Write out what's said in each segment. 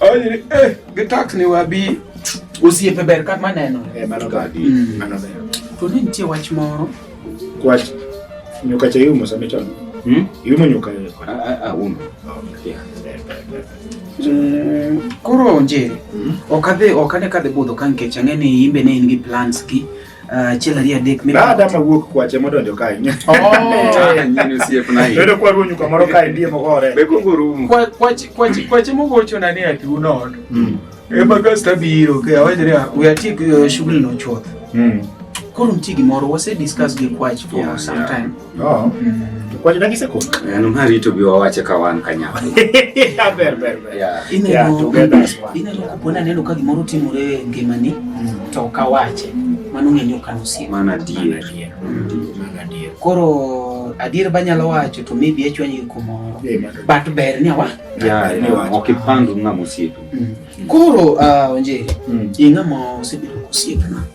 Onye eh gitak ni wabi osiepe ber kata maneno. Eh mano gadi. Mm. Mano ber. To ne nitie wach moro. Wach nyuka cha yumo sa mechon. Hmm? Yumo nyuka. A a a umo. Okay. Mm, koro onjeri mm. ok adhi ok ane kadhi budho ka nikech ang'e ni imbe ne in gi plans gi Achiel ah, ariyo adek mimi. Baada ma wuok kwache modonjo kae. Nyinyi sie kuna hii. Ndio kwa runyu kwa moro kae ndiye mogore. Beko nguru. Kwa kwache kwache kwache mogocho na ne atu no. Mm. E bagas tabiro ke awajiri we are tik eh, shughuli no chuoth. Mm. Koro mtigi moro wase discuss gi kwache for yeah, some yeah. time. Oh. Kwaje na giseko? Eh, no mari to biwa wache ka wan kanya. Ya ber ber ber. Ya. Ine ya to ber das wan. Ine loko pona neno ka gimoro timore ngimani mm. to ka wache. Mano ng'enyo ka nusie. Mana dier. Mana dier. Mm. Koro adier banyalo wacho to maybe echwanyi kumoro. But ber ni awa. Ya, ni wacho. Okipandu ng'amo sietu. Mm. Koro uh, onjeri. Mm. Ing'amo sebedo kusiepna.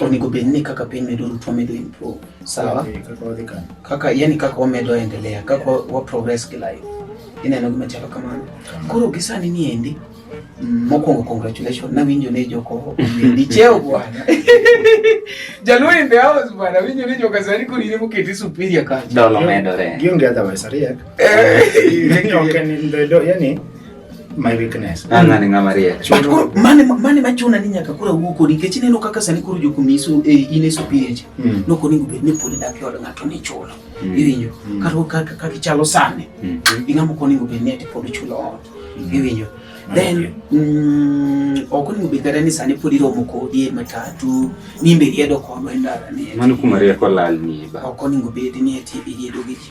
onego bed ni kaka piny medo ruto medo improve sawa kaka yani kaka wamedo endelea kaka wa progress ki life ineno gima chalo kamano koro gisani ni endi mm, mokwongo congratulations nawinjo ni joko omendi cheo bwana jaluo in the house bwana winjo ni joka sani korine moketi superior kacha dolo medore gionge otherwise ariek eh. yani my weakness an ng'ani ng'ama riek koro mane mane machuna ni nyaka koro awuo kodi nikech ineno kaka sani koro jokumi iso eh, in iso pieche mm. nok onego bed ni pod idak e od ng'ato ni chulo mm. iwinjo mm. kata kaka ichalo sani mm-hmm. ing'ama ok onego bed ni ati pod ichulo ot mm-hmm. iwinyo then mm, ok onego bed kata ni sani pod iromo kodi e matatu nimbe iriedo kodwa e ndara ni mano kuma rieko lal ni ba ok onego bed ni ati iriedo gi ji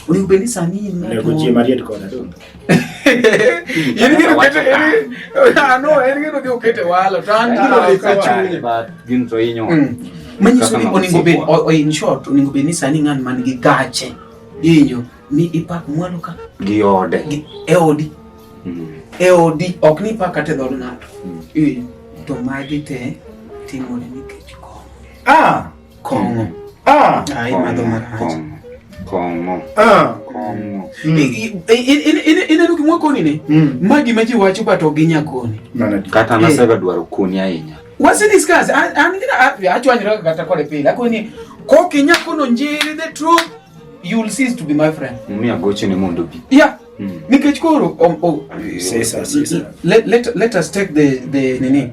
unipendisa nini? Nakujia Mariet kwa nado. Yini ngine ukete yini. Ah no, yini ngine ndio ukete wala. Tandi ndio leka chuni. But ginzo inyo. Mm. Manyi soni oningobe o in short oningobe ni sani ngan man gi gache. Inyo ni ipak mwalo ka gi ode. Gi eodi. Mm. Eodi ok ni pak ate dhod ng'ato. Mm. To magi te timore nikech ko. Ah. Kong'o. Ah. Ah, imadho marach. Kong'o. Ah. Kong'o. Mm. Ineno gimwa koni ne? Mm. Ma gima ji wacho but ok ginya koni. Kata nasega eh. dwaro koni ahinya. Wasi discuss. An gina achwanyra kata kode pile. Akoni koki nyakono njiri the truth you will cease to be my friend. Mimi agoche ni mondo bi. Yeah. Mm. Nikech koro um, oh, sesa, sesa. Let, let, let us take the the nini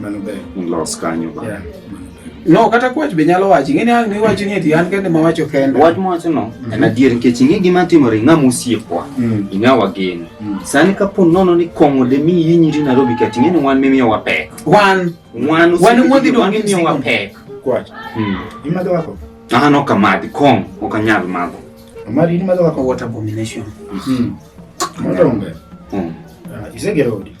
Mano ber. Los kanyo ba. Yeah. No, kata kwach be nyalo wachi. Ng'e ni ang' miwachi ni eti an kende ma wacho kende. Wach mwacho no, mm-hmm. en adier nikech ing'e gima timore ing'a mosiepwa. Mm. Ing'a wageni. Mm. Sani ka po nono ni kong'o de mi yi nyiri Nairobi kati ing'e ni wan mimiyo wa pek. Wan. Wan. Wan wuodhi dwa mimiyo wa pek. Kwach. Mm. Imadho wako? Ah, no kamadhi. Kong, ok anyal madho. Amari ni madho wako what abomination. Mm. Madonge. Mm. Uh, isegero odi.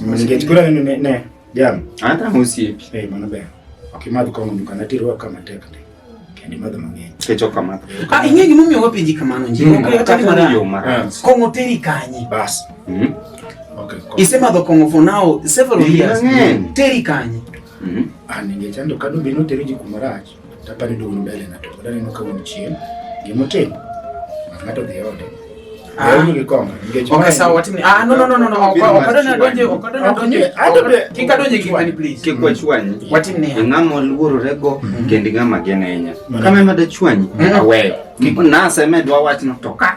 Ningechukua nini ne ne jam. Hata musipi. Eh mana be. Akimadhi kwa mundu kana tiro kama tekne. Kendi madhi mang'eny. Kecho kama. Ah ing'e gima omiyo wapenji kamano nje. Mm. Okay, hata mara yo mara. Kongo teri kanyi. Bas. Mhm. Okay. Isema do kongo for now several years. Teri kanyi. Mhm. Ah ningechando kadu bino teri jikumarachi. Apani duogo mbele ng'ato pod aneno ka wuon chien gima otimo ng'ato dhi ode ng'ama oluororego kendi ng'ama gen ahinya kama ema dachwanyi aweyo naseme dwa wachno to ka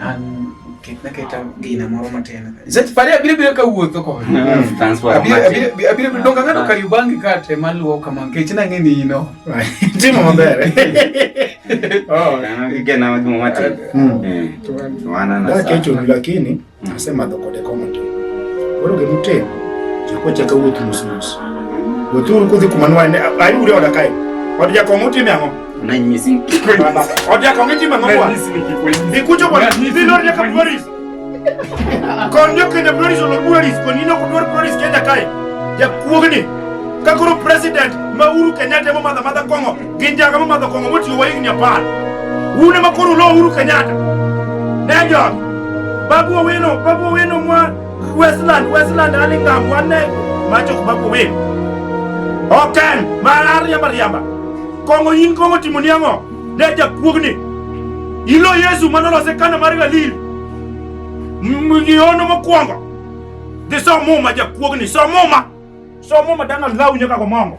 An ket na keta gina moro matin. Sech pare abire bire ka wuotho ko. Mm, transport. Abire abire abire bire donga ngado ka yubangi ka te maluo kama nkech na ngeni ino. Timo maber. Oh, na gigena madumo matin. Mm. Eh. Wana na. Lakini lakini nasema mm. dokode komo tu. Boro gemute. Chakwa chaka wuotho mos mos. Wuotho kudhi kumanwa ne. Ayi uri odakai. Wadja komo timi ango? kakoro president ma Uhuru Kenyatta ema madha madha kong'o gin jaga ma madha kong'o motiyo wa higni apar un ema koro ulo Uhuru Kenyatta ne jogi babu owino babu owino mwa Westland, Westland, Alingam, one name. Macho kubaku win. Oken, marari ya mariamba. Kong'o in kong'o timo ni ang'o? Ne jakuogni. Ilo Yesu mano lose kana mar Galili. Ngiono mokwongo. Dhi som muma jakuogni, som muma. Som muma dana law nyaka gomongo.